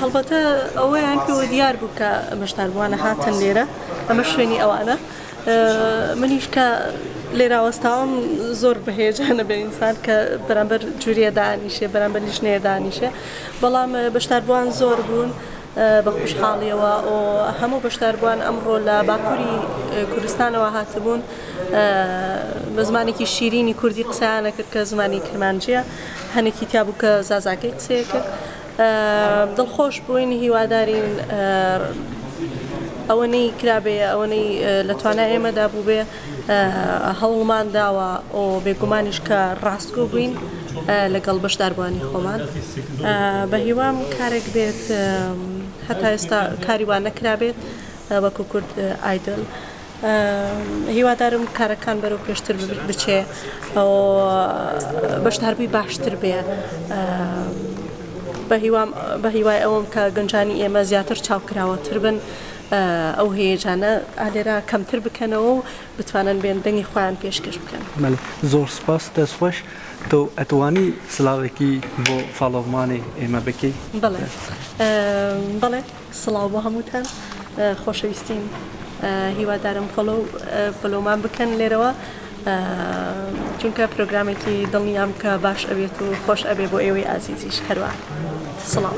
هەڵبەتە ئەوەیان پێوە دیار بوو کە بەشداربووانە هاتن لێرە ئەمە شوێنی ئەوانە منیش کە لێراوەستاوم زۆر بەهێجانە بە ئینسان کە بەرامبەر جوریە دانیشێ بەرامبەر لیشنەیە دانیشێ بەڵام بەشداربووان زۆر بوون. بە خوشحاڵیەوە ئۆ هەموو بەشداربووان ئەمڕۆ لە باکووری کوردستانەوە هاتبوون بە زمانێکی شیرینی کوردی قسانەکرد کە زمانی کرمانجیە هەنێکی تیا بوو کە زازاکەی قسەیە کرد دڵ خۆش بووین هیوادارین ئەوەنەی کرابێ ئەوەنەی لە توانا ئێمەدا بوو بێ هەوڵمان داوە ئۆ بێگومانیش کە ڕاستگۆ بووین لەگەڵ بەشداربووانی خۆمان بە هیوام کارێک بێت هەتا ئێستا کاری وان نەکرابێت وەکو کورد ئایدل. هیوادارم کارەکان بەرەو پێشتر بچێ بەشداربووی باشتر بێ بە هیوای ئەوم کە گەنجانی ئێمە زیاتر چاوکراوەتر بن ئەو هەیەجانە ئالێرا کەمتر بکەنەوە و بتوانن بێن دەنگی خۆیان پێشکەش بکەن زۆر سپاس دەستخۆش تۆ ئەتوانی سلااوێکی بۆ فاڵۆمانی ئێمە بکەی بڵێ بڵێ. سڵاو بۆ هەمووتان خۆشەویستیم هیوادارم فۆلۆو فۆلۆمان بکەن لێرەوە چونکە پرۆگرامێکی دڵنیام کە باش ئەبێت و خۆش ئەبێ بۆ ئێوەی ئازیزیش هەروە سڵاو.